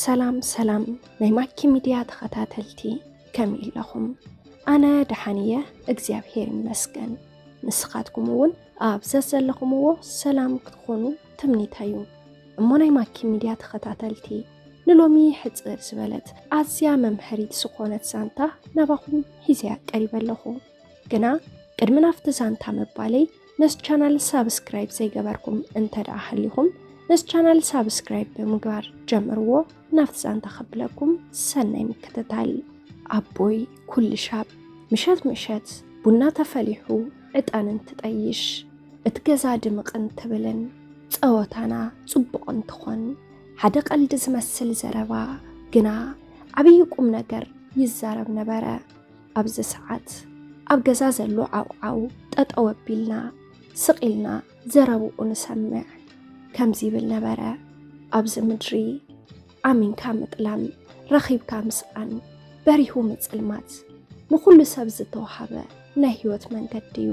ሰላም ሰላም ናይ ማኪ ሚድያ ተኸታተልቲ ከመይ ኣለኹም? ኣነ ደሓን እየ እግዚኣብሄር ይመስገን። ንስኻትኩም እውን ኣብ ዘዘለኹምዎ ሰላም ክትኾኑ ትምኒታ እዩ። እሞ ናይ ማኪ ሚድያ ተኸታተልቲ ንሎሚ ሕፅር ዝበለት ኣዝያ መምሀሪት ዝኾነት ዛንታ ናባኹም ሂዘያ ቀሪበ ኣለኹ። ግና ቅድሚ ናፍቲ ዛንታ ምባለይ ነስ ቻናል ሳብስክራይብ ዘይገበርኩም እንተ ደኣ ሃሊኹም ነስ ቻናል ሳብስክራይብ ብምግባር ጀምርዎ ናፍቲ ዛንታ ከብለኩም ሰናይ ምክትታል ኣቦይ ኩልሻብ ምሸት ምሸት ቡና ተፈሊሑ ዕጣን እንትጠይሽ እቲ ገዛ ድምቕ እንትብልን ጸወታና ጽቡቕ እንትኾን ሓደ ቀልዲ ዝመስል ዘረባ ግና ዓብዪ ቁም ነገር ይዛረብ ነበረ። ኣብዚ ሰዓት ኣብ ገዛ ዘሎ ዓውዓው ጠጠው ኣቢልና ስቕ ኢልና ዘረብኡ ንሰምዕ ከምዚ ይብል ነበረ ኣብዚ ምድሪ ኣሚንካ ምጥላም ረኺብካ ምስኣን በሪሁ ምፅልማት ንኹሉ ሰብ ዝተዋሃበ ናይ ህይወት መንገዲ እዩ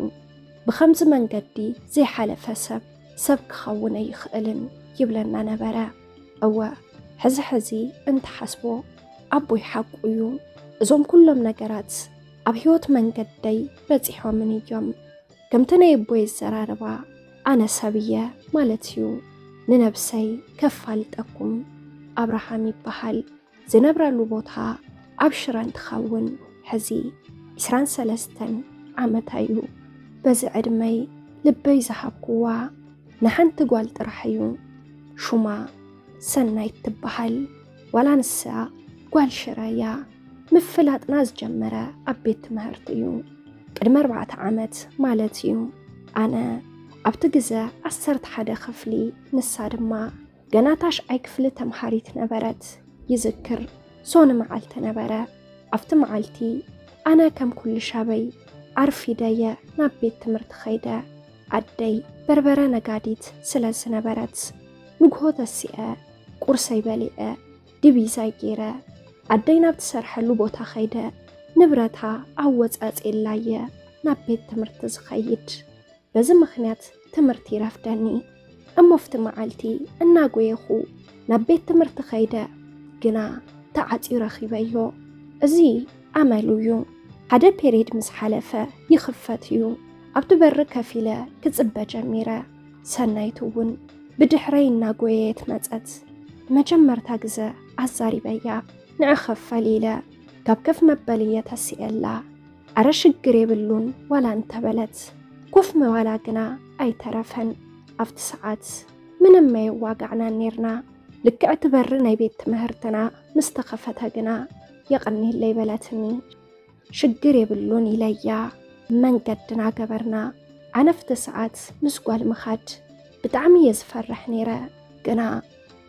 ብከምዚ መንገዲ ዘይሓለፈ ሰብ ሰብ ክኸውን ኣይኽእልን ይብለና ነበረ እወ ሕዚ ሕዚ እንተሓስቦ ኣቦይ ሓቁ እዩ። እዞም ኩሎም ነገራት ኣብ ህይወት መንገደይ በፂሖምን እዮም። ከምቲ ናይ ኣቦይ ኣዘራርባ ኣነ ሰብ እየ ማለት እዩ። ንነብሰይ ከፋልጠኩም ኣብርሃም ይበሃል። ዝነብረሉ ቦታ ኣብ ሽረ እንትኸውን ሕዚ ዕስራን ሰለስተን ዓመት ኣዩ። በዚ ዕድመይ ልበይ ዝሃብኩዋ ንሓንቲ ጓል ጥራሕ እዩ። ሹማ ሰናይት ትበሃል። ዋላ ንሳ ጓል ሽረ እያ። ምፍላጥና ዝጀመረ ኣብ ቤት ትምህርቲ እዩ። ቅድሚ ኣርባዕተ ዓመት ማለት እዩ። ኣነ ኣብቲ ግዘ ዓሰርተ ሓደ ክፍሊ ንሳ ድማ ገና ታሽዓይ ክፍሊ ተምሃሪት ነበረት ይዝክር ሶኒ መዓልቲ ነበረ ኣብቲ መዓልቲ ኣነ ከም ኩሉ ሻበይ ኣርፊደየ ናብ ቤት ትምህርቲ ኸይደ ኣደይ በርበረ ነጋዲት ስለ ዝነበረት ንግሆ ተሲአ ቁርሰይ በሊዐ ድቢዛይ ገይረ ኣደይ ናብ ትሰርሐሉ ቦታ ኸይደ ንብረታ ኣወፃፅኤላየ ናብ ቤት ትምህርቲ ዝኸይድ በዚ ምኽንያት ትምህርቲ ይረፍደኒ እሞ ኣብቲ መዓልቲ እናጎየኹ ናብ ቤት ትምህርቲ ከይደ ግና ተዓፅዩ ረኺበዮ እዚ ኣመሉ እዩ ሓደ ፔሬድ ምስ ሓለፈ ይኽፈት እዩ ኣብቲ በሪ ከፍ ኢለ ክፅበ ጀሚረ ሰናይት እውን ብድሕረይ እናጎየየት መፀት ንመጀመርታ ግዘ ኣዛሪበያ ንዕኸፍ ፈሊ ኢለ ካብ ከፍ መበልየ ተሲኤላ ኣረ ሽግር የብሉን ዋላ እንተበለት ኮፍ ምባላ ግና ኣይተረፈን። ኣብቲ ሰዓት ምንም መየዋጋዕናን ኔርና። ልክዕ እቲ በሪ ናይ ቤት ትምህርትና ምስ ተኸፈተ ግና የቐኒለይ በለትኒ። ሽግር የብሉን ኢለያ መንገድና ገበርና። ዓነፍቲ ሰዓት ምስ ጓል ምኻድ ብጣዕሚ እየ ዝፈርሕ ነይረ። ግና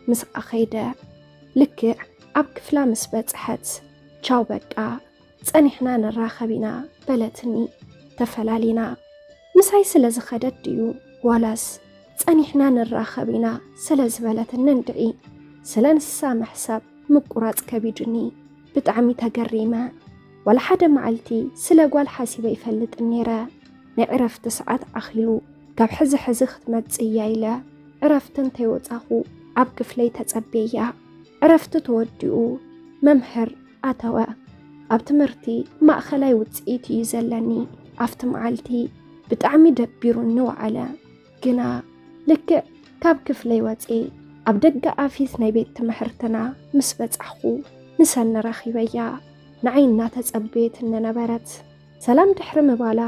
ምስኣ ኸይደ። ልክዕ ኣብ ክፍላ ምስ በጽሐት ቻው በቃ ጸኒሕና ንራኸብ ኢና በለትኒ። ተፈላሊና ምሳይ ስለ ዝኸደት ድዩ ዋላስ ጸኒሕና ንራኸብ ኢና ስለ ዝበለትኒ እንድዒ ስለ ንሳ ምሕሳብ ምቁራጽ ከቢዱኒ ብጣዕሚ ተገሪመ። ዋላ ሓደ መዓልቲ ስለ ጓል ሓሲበ ይፈልጥን ነይረ። ናይ ዕረፍቲ ሰዓት ኣኺሉ ካብ ሕዚ ሕዚ ክትመጽእ እያ ኢለ ዕረፍቲ እንተይወጻኹ ኣብ ክፍለይ ተጸቤያ። ዕረፍቲ ተወዲኡ መምህር ኣተወ። ኣብ ትምህርቲ ማእኸላይ ውፅኢት እዩ ዘለኒ። ኣብቲ መዓልቲ ብጣዕሚ ደቢሩኒ ወዓለ። ግና ልክዕ ካብ ክፍለይ ወፅኤ ኣብ ደገ ኣፊት ናይ ቤት ትምህርትና ምስ በፃሕኹ ንሰኒ ረኺበያ። ንዓይ እናተፀበየት እነነበረት ሰላም ድሕሪ ምባላ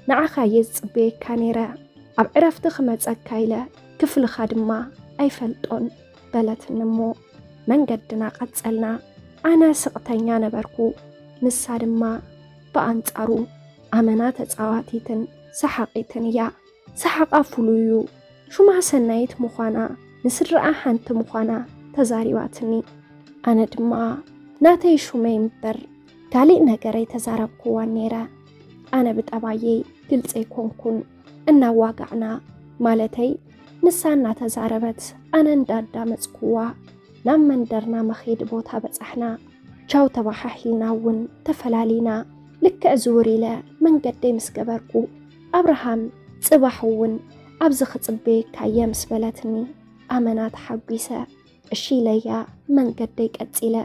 ንዓኻ እየ ዝፅበየካ ነይረ ኣብ ዕረፍቲ ክመፀካ ኢለ ክፍልኻ ድማ ኣይፈልጦን በለትኒ እሞ መንገድና ቀጸልና። ኣነ ስቕተኛ ነበርኩ፣ ንሳ ድማ ብኣንጻሩ ኣመና ተጻዋቲትን ሰሓቒትን እያ። ሰሓቓ ፍሉይ እዩ። ሹማ ሰናይት ምዃና ንስድራኣ ሓንቲ ምዃና ተዛሪባትኒ። ኣነ ድማ ናተይ ሹመይ እምበር ካሊእ ነገር ኣይተዛረብኩዋን ነይረ። ኣነ ብጠባየይ ግልፂ ኣይኮንኩን። እናዋጋዕና ማለተይ ንሳ እናተዛረበት ኣነ እንዳዳመፅኩዋ ናብ መንደርና መኼዲ ቦታ በፃሕና። ቻው ተባሓሒልና እውን ተፈላሊና። ልክዕ ዝውር ኢለ መንገደይ ምስ ገበርኩ ኣብርሃም ፅባሕ እውን ኣብዚ ክፅበየካ እየ ምስ በለትኒ ኣመና ተሓጒሰ። እሺ ኢለያ መንገደይ ቀጺለ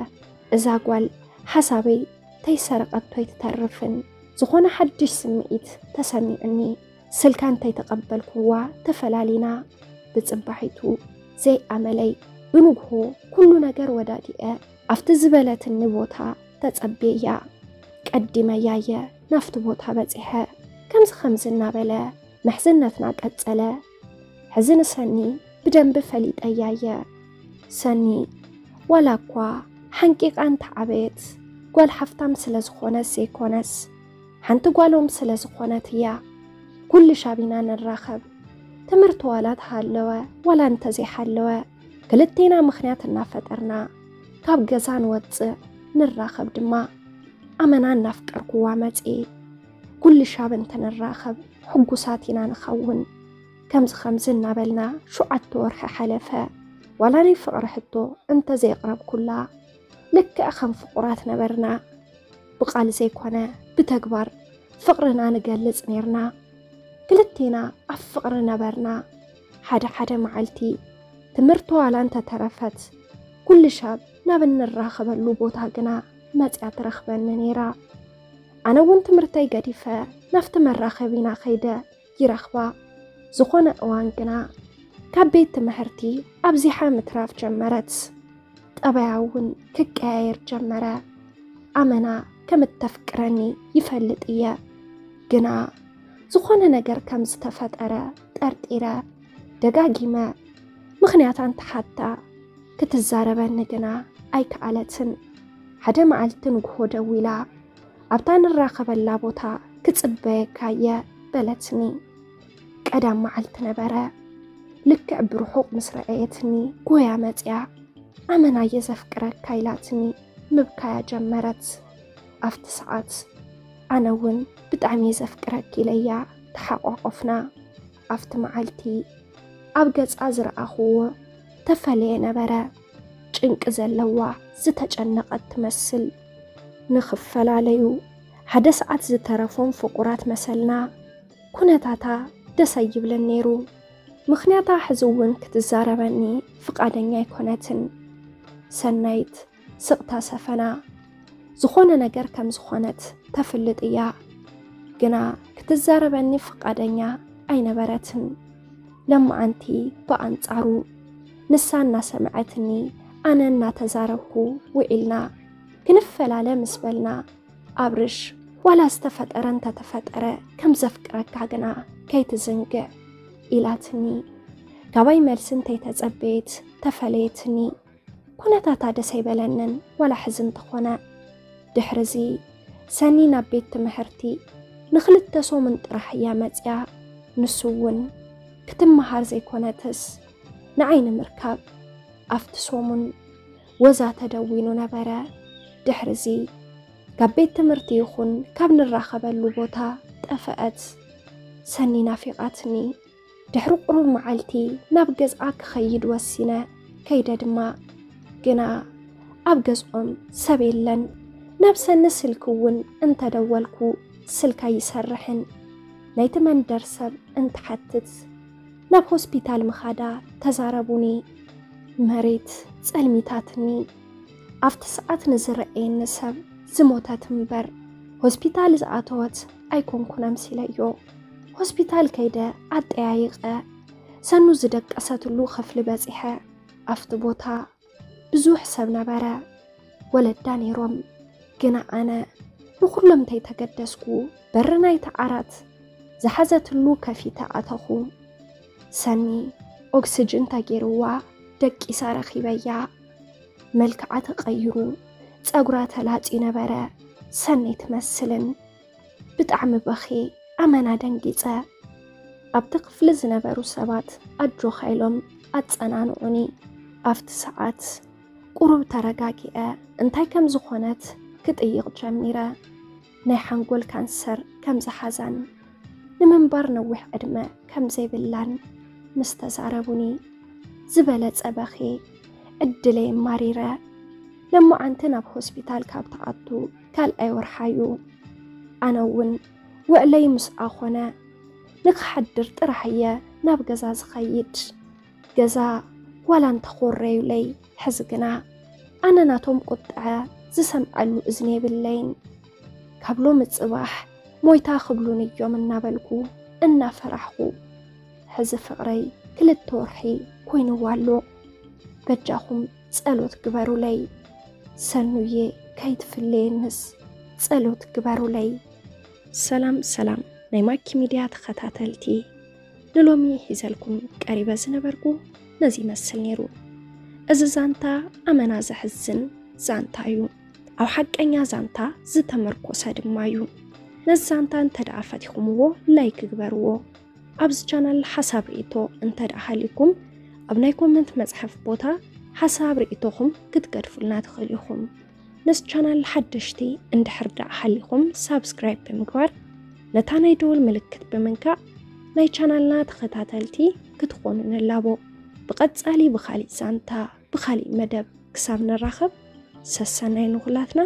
እዛ ጓል ሓሳበይ ተይሰረቐቶ ኣይትተርፍን ዝኾነ ሓድሽ ስምዒት ተሰሚዑኒ ስልካ እንተይተቐበልኩዋ ተፈላሊና ብጽባሒቱ ዘይኣመለይ ብንግሆ ኩሉ ነገር ወዳዲኤ ኣብቲ ዝበለትኒ ቦታ ተጸቤያ ቀዲመያየ ናፍቲ ቦታ በጺሐ ከምዚ ከምዚ እናበለ ምሕዝነትና ቀጸለ። ሕዚ ንሰኒ ብደንቢ ፈሊጠያ እየ ሰኒ ዋላ እኳ ሓንቂቓ እንተዓበየት ጓል ሓፍታም ስለ ዝኾነት ዘይኮነስ ሓንቲ ጓሎም ስለ ዝኾነት እያ ኩሉ ሻቢና ንራኸብ ትምህርቲ ዋላ ተሃለወ ዋላ እንተዘይሓለወ ክልቴና ምክንያት እናፈጠርና ካብ ገዛ ንወፅእ ንራኸብ ድማ ኣመና እናፍቀርኩዋ መፅእ ኩሉ ሻብ እንተንራኸብ ሕጉሳት ኢና ንኸውን። ከምዚ ከምዚ እናበልና ሸውዓተ ወርሒ ሓለፈ። ዋላ ናይ ፍቕሪ ሕቶ እንተዘየቕረብኩላ ልክዕ ከም ፍቑራት ነበርና። ብቓል ዘይኮነ ብተግባር ፍቕርና ንገልጽ ኔርና። ክልቴና ኣብ ፍቕሪ ነበርና። ሓደ ሓደ መዓልቲ ትምህርቲ ዋላ እንተተረፈት ኩሉ ሻብ ናብ እንራኸበሉ ቦታ ግና መጽያ ትረኽበኒ ኔራ። ኣነ እውን ትምህርተይ ገዲፈ ናፍቲ መራኸቢና ከይደ ይረኽባ። ዝኾነ እዋን ግና ካብ ቤት ትምህርቲ ኣብዚሓ ምትራፍ ጀመረት። ጠበያ እውን ክቀያየር ጀመረ። ኣመና ከም እተፍቅረኒ ይፈልጥ እየ፣ ግና ዝኾነ ነገር ከም ዝተፈጠረ ጠርጢረ ደጋጊመ ምኽንያት ኣንተሓታ ክትዛረበኒ ግና ኣይከኣለትን። ሓደ መዓልቲ ንግሆ ደዊላ ኣብታ ንራኸበላ ቦታ ክጽበየካ እየ በለትኒ። ቀዳም መዓልቲ ነበረ። ልክዕ ብርሑቕ ምስ ረኣየትኒ ጎያ መጽያ ኣመና እየ ዘፍቅረካ ኢላትኒ ምብካያ ጀመረት። ኣብቲ ሰዓት ኣነ እውን ብጣዕሚ እየ ዘፍቅረኪ ኢለያ ተሓቋቆፍና። ኣብቲ መዓልቲ ኣብ ገጻ ዝረኣኹዎ ተፈለየ ነበረ። ጭንቂ ዘለዋ ዝተጨነቐት ትመስል። ንኽፈላለዩ ሓደ ሰዓት ዝተረፎም ፍቑራት መሰልና። ኩነታታ ደስ ኣይብልን ነይሩ። ምኽንያታ ሕዚ እውን ክትዛረበኒ ፍቓደኛ ኣይኮነትን። ሰናይት ስቕታ ሰፈና። ዝኾነ ነገር ከም ዝኾነት ተፍልጥ እያ፣ ግና ክትዛረበኒ ፍቓደኛ ኣይነበረትን። ለማዓንቲ ብኣንጻሩ፣ ንሳ እናሰምዐትኒ ኣነ እናተዛረብኩ ውዒልና። ክንፈላለ ምስ በልና፣ ኣብርሽ ዋላ ዝተፈጠረ እንተተፈጠረ ከም ዘፍቅረካ ግና ከይትዝንግዕ ኢላትኒ። ካባይ መልሲ እንተይተጸበየት ተፈለየትኒ። ኩነታታ ደስ ኣይበለንን ዋላ ሕዚ እንተኾነ። ድሕርዚ ሰኒ ናብ ቤት ትምሕርቲ ንክልተ ሶምን ጥራሕ እያ መፅያ ንሱ እውን ክትመሃር ዘይኮነትስ ንዓይ ንምርካብ ኣፍቲ ሶሙን ወዛ ተደዊኑ ነበረ ድሕርዚ ካብ ቤት ትምህርቲ ይኹን ካብ ንራኸበሉ ቦታ ጠፈአት ሰኒ ናፊቃትኒ። ድሕሪ ቁሩብ መዓልቲ ናብ ገዝኣ ክኸይድ ወሲነ ከይደ ድማ ግና ኣብ ገዝኦም ሰብ የለን ናብ ሰኒ ስልኪ እውን እንተደወልኩ ስልካ ይሰርሕን ናይቲ መንደር ሰብ እንትሓትት ናብ ሆስፒታል ምኻዳ ተዛረቡኒ መሬት ጸልሚታትኒ ኣብቲ ሰዓት ንዝረኣየኒ ሰብ ዝሞተት እምበር ሆስፒታል ዝኣተወት ኣይኮንኩን ኣምሲለዮ ሆስፒታል ከይደ ኣጠያይቐ ሰኑ ዝደቀሰትሉ ክፍሊ በፂሐ ኣብቲ ቦታ ብዙሕ ሰብ ነበረ ወለዳ ነይሮም ግና ኣነ ንኩሎም ተይተገደስኩ በሪ ናይቲ ዓራት ዝሓዘትሉ ከፊተ ኣተኹ ሰኒ ኦክስጅን ተገይርዋ ደቂሳ ረኺበያ መልክዓ ተቐይሩ ፀጉራ ተላፂ ነበረ ሰነይ ትመስልን ብጣዕሚ በኺ ኣመና ደንጊፀ ኣብቲ ክፍሊ ዝነበሩ ሰባት ኣጆኻ ኢሎም ኣፀናንዑኒ ኣብቲ ሰዓት ቁሩብ ተረጋጊዐ እንታይ ከም ዝኾነት ክጥይቕ ጀሚረ ናይ ሓንጎል ካንሰር ከም ዝሓዛን ንምንባር ነዊሕ ዕድመ ከም ዘይብላን ምስ ተዛረቡኒ ዝበለፀ በኺ ዕድለይ ማሪረ ለማዓንቲ ናብ ሆስፒታል ካብ ተኣቱ ካልኣይ ወርሓ'ዩ። ኣነ'ውን ውዕለይ ምስኣ ኮነ። ንክሓድር ጥራሕ'የ ናብ ገዛ ዝኸይድ። ገዛ ዋላ እንተኾረዩለይ ሕዚ ግና ኣነ ናቶም ቁጥዐ ዝሰምዐሉ እዝኒ የብለይን። ካብ ሎሚ ጽባሕ ሞይታ ክብሉኒ'ዮም እናበልኩ እናፈራሕኹ። ሕዚ ፍቕረይ ክልተ ወርሒ ኮይኑዎ ኣሎ። በጃኹም ጸሎት ግበሩለይ ሰኑዬ ከይትፍለየንስ ጸሎት ግበሩለይ። ሰላም ሰላም ናይ ማኪ ሚድያ ተኸታተልቲ ንሎሚ ሒዘልኩም ቀሪበ ዝነበርኩ ነዚ ይመስል ነይሩ። እዚ ዛንታ ኣመና ዘሕዝን ዛንታ እዩ፣ ኣብ ሓቀኛ ዛንታ ዝተመርኮሰ ድማ እዩ። ነዚ ዛንታ እንተደኣ ፈቲኹምዎ ላይክ ግበርዎ። ኣብዚ ቻናል ሓሳብ ርእቶ እንተ ደኣ ሃልዩኩም ኣብ ናይ ኮመንት መጽሐፍ ቦታ ሓሳብ ርእቶኹም ክትገድፉልና ትኽእሉ ኢኹም። ነዚ ቻናል ሓደሽቲ እንድሕር ደኣ ሃሊኹም ሳብስክራይብ ብምግባር ነታ ናይ ደወል ምልክት ብምንካእ ናይ ቻናልና ተኸታተልቲ ክትኾኑ ንላቦ። ብቐጻሊ ብኻሊእ ዛንታ ብኻሊእ መደብ ክሳብ ንራኸብ ሰሰናይ ንኹላትና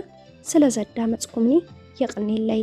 ስለ ዘዳመጽኩምኒ የቕኒለይ።